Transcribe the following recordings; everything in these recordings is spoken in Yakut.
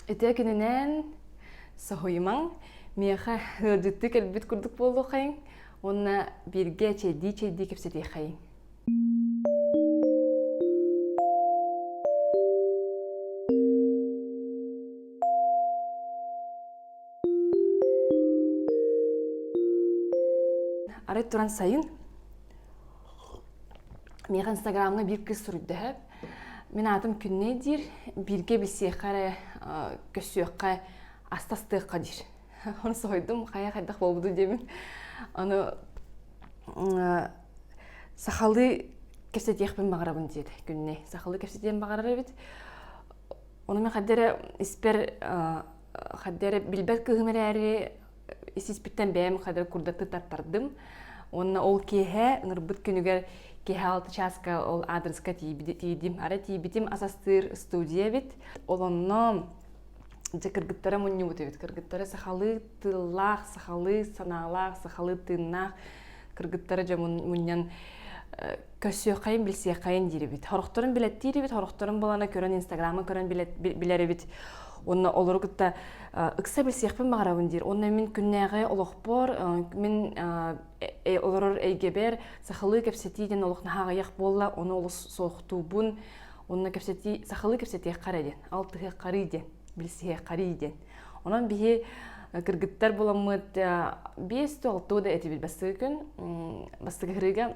Ити кининээн соһуйумаҥ, миэхэ ыалдьыттыы кэлбит курдук буолуоххайыҥ уонна бииргэ чэйдии-чэйдии кэпсэтиэххэйиҥ арай туран сайын миэхэ инстаграмҥа биир кыыс суруйда мин аатым күннэй диир бииргэ билсиэххэ эрэ көссүөххэ астастыахха диир оны соһуйдум хайа хайдах буолбуту диэбин аны сахалыы кэпсэтиэхпин баҕарабын диэт күннэй сахалыы кэпсэтиэн баҕарар эбит ону мен хайдах эрэ испэр Хадды эрэ билбэт кыыһым эрээри исиспиттэн бэйэм хадды курдаттыы тартардым. Уонна ол киэһэ ынырбыт күнүгэр киэһэ алта чааска ол аадырыска тиийдим. Арай тиийбитим ас астыыр студия эбит. Ол онно дьэ кыргыттара мунньубут эбит. Кыргыттара сахалыы тыллаах, сахалыы санаалаах, сахалыы тыыннаах кыргыттара дьэ мунньан көрсүөххэйин билсиэххэйин диирибит сорохторун билеттиирибит сорохторун булана көрөн инстаграма көрөн билэрибит уонна олору кытта ыкса билсиэхпин баҕарабын диир уонна мин күннээҕи олохпор мин олорор эйгэбэр сахалыы кэпсэтии диэн олох наһаҕыйах буолла ону олус суохтуубун уонна кэпсэтии сахалыы кэпсэтиэххэ диэн алтыһыаххарый диэн билсиһиэххарый диэн онон биһи кыргыттар буламмыт биэс да алты да этибит бастакы күн бастакы ырыыга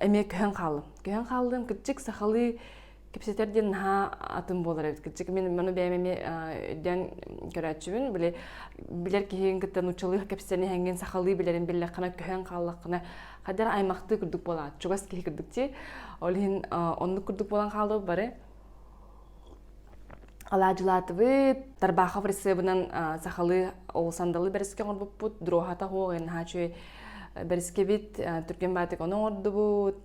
эмиэ көһөн хааллым көһөн хааллым кырдьык сахалыы кэпсэтэр диэн наһаа атын буолар эбит кырдьык мин маны бэйэм эмиэ өйдөөн көрөөччүбүн били билэр киһиҥ кытта нууччалыы кэпсээн иһэҥҥин сахалыы билэрин биллэххинэ көһөн хааллаххына хайдах аймахтыы курдук буолаат чугас киһи курдук дии ол иһин оннук курдук буолан хааллыбыт бары Алаадьылаатыбыт Тарбахов рысыбынан сахалыы ол сандалы бэриске оҥорбуппут дроһата оһох наһаа үчүгэй бэрискэбит түргэн баатык ону оҥордубут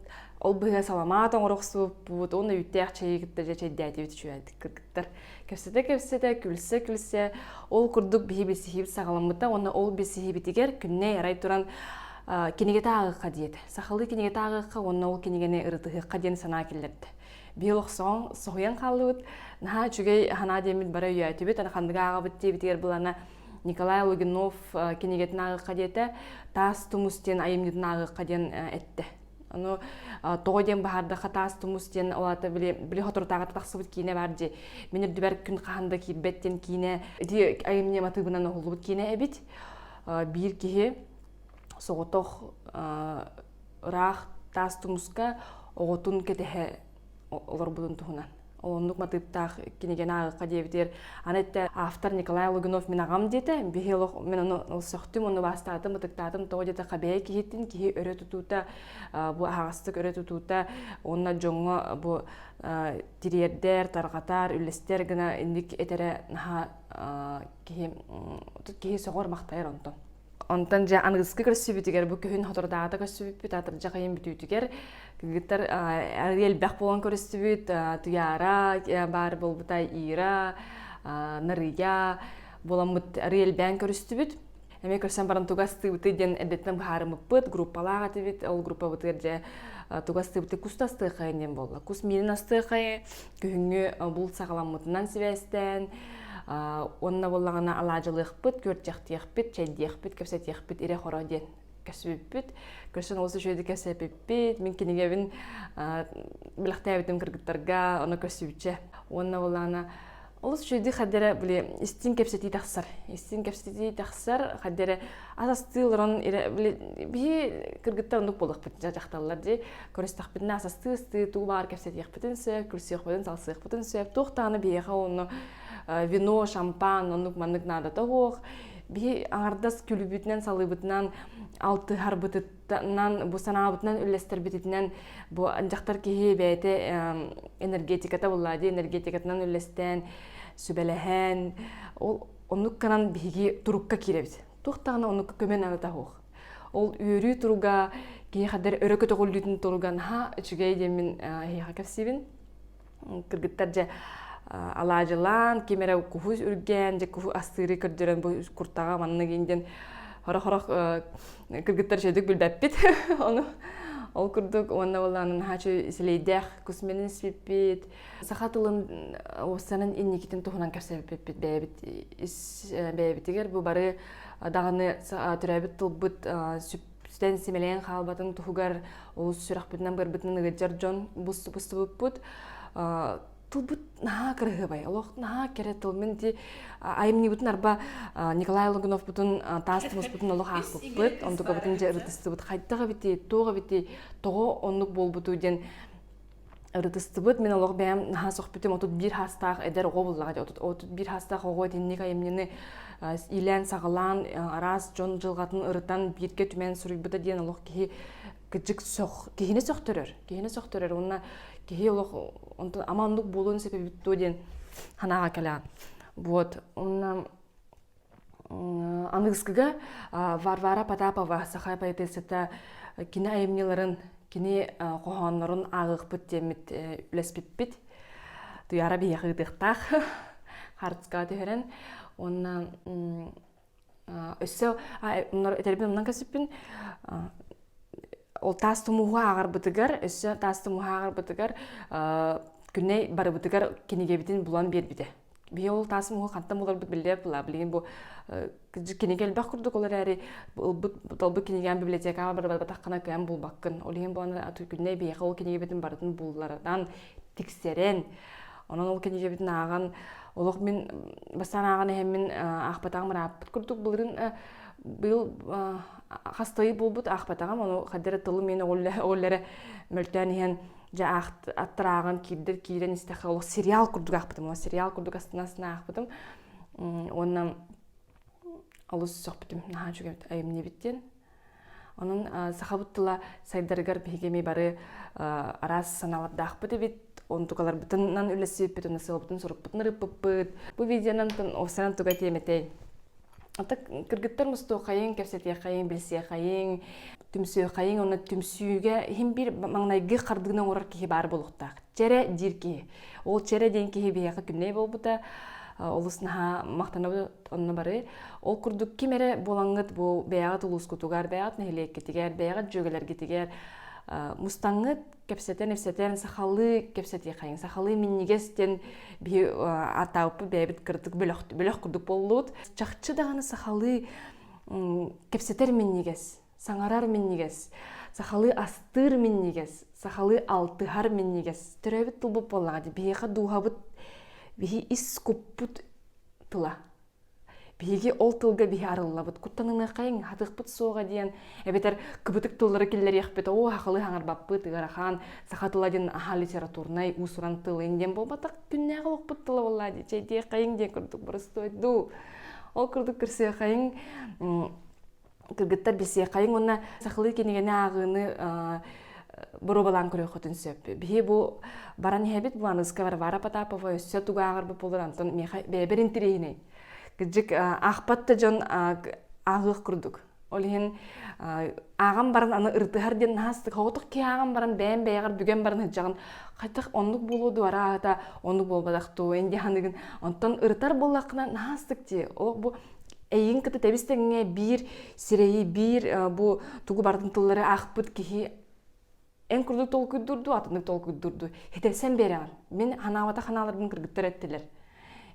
ол быһыга саламаат оҥоро охсубуппут уонна үүттээх чэйи кытта дьэ чэйдээтибит үчүгэйдик кыргыттар кэпсэтэ-кэпсэтэ күлсэ-күлсэ ол курдук биһи билсиһиибит саҕаламмыта уонна ол билсиһиибитигэр күннэй арай туран кинигэ тааҕыахха диэт сахалыы кинигэ тааҕыахха уонна ол кинигэни ырытыһыахха диэн санаа киллэрдэ биһил охсоҕоҥ соһуйан хааллыбыт наһаа үчүгэй ханаа диэммит бара үйөөтүбүт ана хандыга ааҕабыт диэбитигэр былана Николай Логинов кинигетін аагыққа диэте таас тумус диэн айымньытын аагыққа диэн этте anu тоҕо диэн баһардаха таас тумус диэн олата били били хоторутааҕата тахсыбыт киинэ баар ди минир дүбэр күн хаһан да киирбэт диэн киинэ ити айымньы матыыбынан оһуллубут киинэ эбит биир киһи соҕотох ыраах таас тумуска оҕотун кэтэһэ олорбутун туһунан оннук матыыптаах кинигэн ааҕыкка диэбитигэр аны этэ автор николай лугинов мин аҕам диэтэ биһи олох мен ону ылсахтым ону убаастаатым ытыктаатым тоҕо диэтэ хабэйэ киһитин киһи өрө тутуута бу аһаҕастык өрө тутуута уонна дьоҥҥо бу тириэрдэр тарҕатар үллэстэр гына инник этэрэ наһаа киһи киһи соҕор махтайар онтон Онтон дьэ аныгыскы көрсүбүтүгэр бу күһүн хотордаата көрсүбүппүт атырдьах ыйын бүтүүтүгэр кыргыттар арыый элбэх буолан көрүстүбүт Туяра баар буолбута Ира Нарыя буоламмыт арыый элбээн көрүстүбүт эмиэ көрсөн баран туга астыыбытый диэн эрдэттэн быһаарыммыппыт группалаах этибит ол группабытыгар дьэ туга астыыбытый кус да астыаххайын диэн буолла кус миинин астыаххайы Күһүҥҥү обул саҕаламмытынан сибээстээн, уонна буоллаҕына алаадьылыахпыт, күөрчэхтиэхпит, чэйдиэхпит, кэпсэтиэхпит ирэ-хоро диэн кэсибиппит. Көрсөн олус үчүгэйдик кэпсэпиппит. Мин кинигэбин билэхтээбитим кыргыттарга оно көрсүбүччэ. Уонна буоллаҕына олус үчүгэйдик хаддара били истин кэпсэтии тахсар. Истин кэпсэтии тахсар хаддара ас астыы олорон били биһи кыргыттар оннук буолахпыт дьахталлар дии. көрүстэхпитинэ асастыы ыстыы туу баар кэпсэтиэхпитин сөп күлсүөхпутун салсыахпытын сөп туох даҕаны биһиэхэ онно э, вино шампан оннук маннык наада тоһуох биһи аҥардас күлүбүтүнэн салыыбытынан алтыһарбытыттан бу санаабытынан үллэстэрбититинэн бу дьахтар киһи бэйэтэ энергетиката буллаа дии энергетикатынан үллэстээн сүбэлэһэн ол оннук гынан биһиги турукка киирэбит туох даҕаны оннукка көмө наада таһуох Ол үөрүү туруга киэхадэр өрө көтөҕүллүүтүн туруган ха үчүгэй диэмин эһиэхэ кэпсиибин. Кыргыттар дьэ алаадьылаан, ким эрэ куһу үргээн, дьэ куһу астыыры көрдөрөн бу куртаҕа маннык индин хорох-хорох кыргыттар чөйдүк билбэппит ону ол курдук уонна болаанын хаачы силэйдээх кусменин сиппит саха тылын уоссанын инникитин туһунан кэрсэбиппит бэйэбит бэйэбитигэр бу бары даҕаны төрөөбүт тылбыт сүптэн симэлээн хаалбатын туһугар олус сүрэхпитинэн бырбытынан ыгыддьар дьон бустубуппут тылбыт наһаа кыраһыабай олох наһаа кэрэ тыл мин ити айымньыбытын арба николай логуновпутун таастымыспытын олох аахпыппыт онтукабытын дьэ ырытыстыбыт хайдах эбитий туох эбитий тоҕо оннук буолбуту диэн ырытыстыбыт мин олох бэйэм наһаа сөхпүтүм отут биир хаастаах эдэр оҕо буллаҕа дьэ отут биир хаастаах оҕо итинник айымньыны иилээн саҕалаан араас дьон дьылҕатын ырытан бииргэ түмэн суруйбута диэн олох киһи кыдьык сөх киһини сөхтөрөр киһини сөхтөрөр уонна киһи олох онтон ама оннук буолуон сөп эбит дуо диэн санааҕа кэлэҕин вот уонна Аныгыскыга Варвара Потапова саха поэтессата кини айымньыларын, кини хоһооннорун ааҕыахпыт диэммит үлэспиппит. Туйаара биһиэхэ ыытыахтаах харыска түһэрэн уонна өссө оннор этэрбин умнан кэсиппин ол таас тумууһу ааҕарбытыгар өссө таас тумууһу ааҕарбытыгар Күнэй барыбытыгар кинигэбитин булан биэрбитэ Бие ол таасым угу хантан буларбыт биллер была. Билигин бу кинигэ элбэх курдук ол эрээри ылбыт кинигам библиотекаҕа барбатаххына кыам булбаккын. Ол иһин буолан күннэй биэхэ ол кинигебитин барытын буллардан тиксэрэн онон ол кинигебитин ааҕан олох мин бастаан ааҕан эһэммин аахпатаҕым ырааппыт курдук былырын быйыл хастайы буолбут аахпатаҕым ону хаддара тылы мен оҕоллэрэ мөлтөөн иһэн дьэ аттарааҕын киирдэр киирэн истэххэ олох сериал курдук аахпытым ол сериал курдук астына-астына аахпытым уонна олус сөхпүтүм наһаа үчүгэй айымньыбыт диэн онон сахабыт тыла сайдарыгар биһиги эмиэ бары араас санаалардаахпыт эбит онтукаларбытынан үлэлсиппит уонна сыалбытын сорукпутун ырыппыппыт бу видеонан осанан туга тиэмэтэй Атык кыргыттар мустуоххайыҥ, кэпсэтиэххайыҥ, билсиэххайыҥ, түмсүөххайыҥ уонна түмсүүгэ иһин биир маҥнайгы хардыыны оҥорор киһи баар буолуохтаах. Чэрэ диир киһи. Ол Чэрэ диэн киһи биһиэхэ күннэй буолбута олус наһаа махтанабыт онно бары. Ол курдук ким эрэ буолаҥҥыт бу бэйэҕит улуускутугар, бэйэҕит нэһилиэккитигэр, бэйэҕит дьүөгэлэргитигэр мустаҥҥыт кэпсэтэн-эпсэтэн сахалыы кэпсэтии хайыҥ сахалыы минньигэс диэн биһи атааппы бэйэбит кырдык бөлөх бөлөх курдук боллут чахчы даҕаны сахалыы кэпсэтэр минньигэс саҥарар минньигэс сахалыы астыыр минньигэс сахалыы алтыһар минньигэс төрөөбүт тылбыт буоллаҕа дии биһиэхэ дууһабыт биһи ис куппут тыла биһиги ол тылга биһи арыллабыт куттаныаххайыҥ хатыахпыт суоҕа диэн эбэтэр кыбытык тыллары киллэриэхпит оо хахылыы хаҥарбаппыт ыарахан саха тыла диэн аһа литературнай уусуран тылын диэн буолбатах күннээх олохпут тыла буоллаа дии чэйдиэххэйиҥ диэн курдук боростуой дуу ол курдук көрсүөххэйиҥ кыргыттар билсиэххайыҥ уонна сахалыы кинигэни ааҕыыны боруобалаан көрүөххүтүн сөп биһи бу баран иһэбит Буаныска Варвара Потапова өссө тугааҕар бу буолар антон миэхэ бэйэбэр интириэһинэй кырдьык аахпат да дьон ааҕыах курдук ол иһин ааҕан баран аны ырытыһар диэн наһаастык соҕотох киһи баран бэйэм бэйэҕэр бүгэн баран сылдьаҕын хотох оннук буолуо дуо араата оннук буолбатах дуу ин аныгын онтон ырытар буоллаххына наһаастык дии ол бу эйин кыты тэбис тэҥҥэ биир сирэйи биир бу тугу бардын тыллары аахпыт киһи эн курдук толкуйдурду атыннык толкуйдурду хитэсен береҕин мин ханаабата ханааларбын кыргыттар эттилер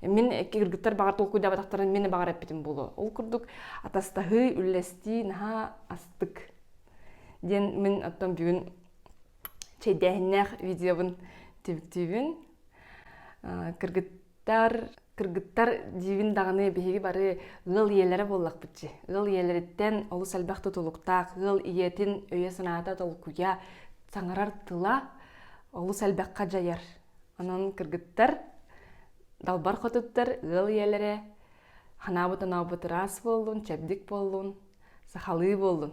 мин кыргыттар баҕар толкуйдабатахтарын мин баҕар эппитим булу ол курдук атастаһыы үллэстии наһаа астык диэн мин оттон бүгүн чэйдээһиннээх видеобын тиктүүбүн кыргыт тар кыргыттар диибин даҕаны биһиги бары ыал ийэлэрэ буоллахпыт дии ыал ийэлэриттэн олус элбэх тутулуктаах ыал ийэтин өйө-санаата толкуйа саҥарар тыла олус элбэххэ дьайар онон кыргыттар далбар хотуттар ыал ийэлэрэ анаабыт анаабыт ыраас буоллун чэбдик буоллун сахалыы буоллун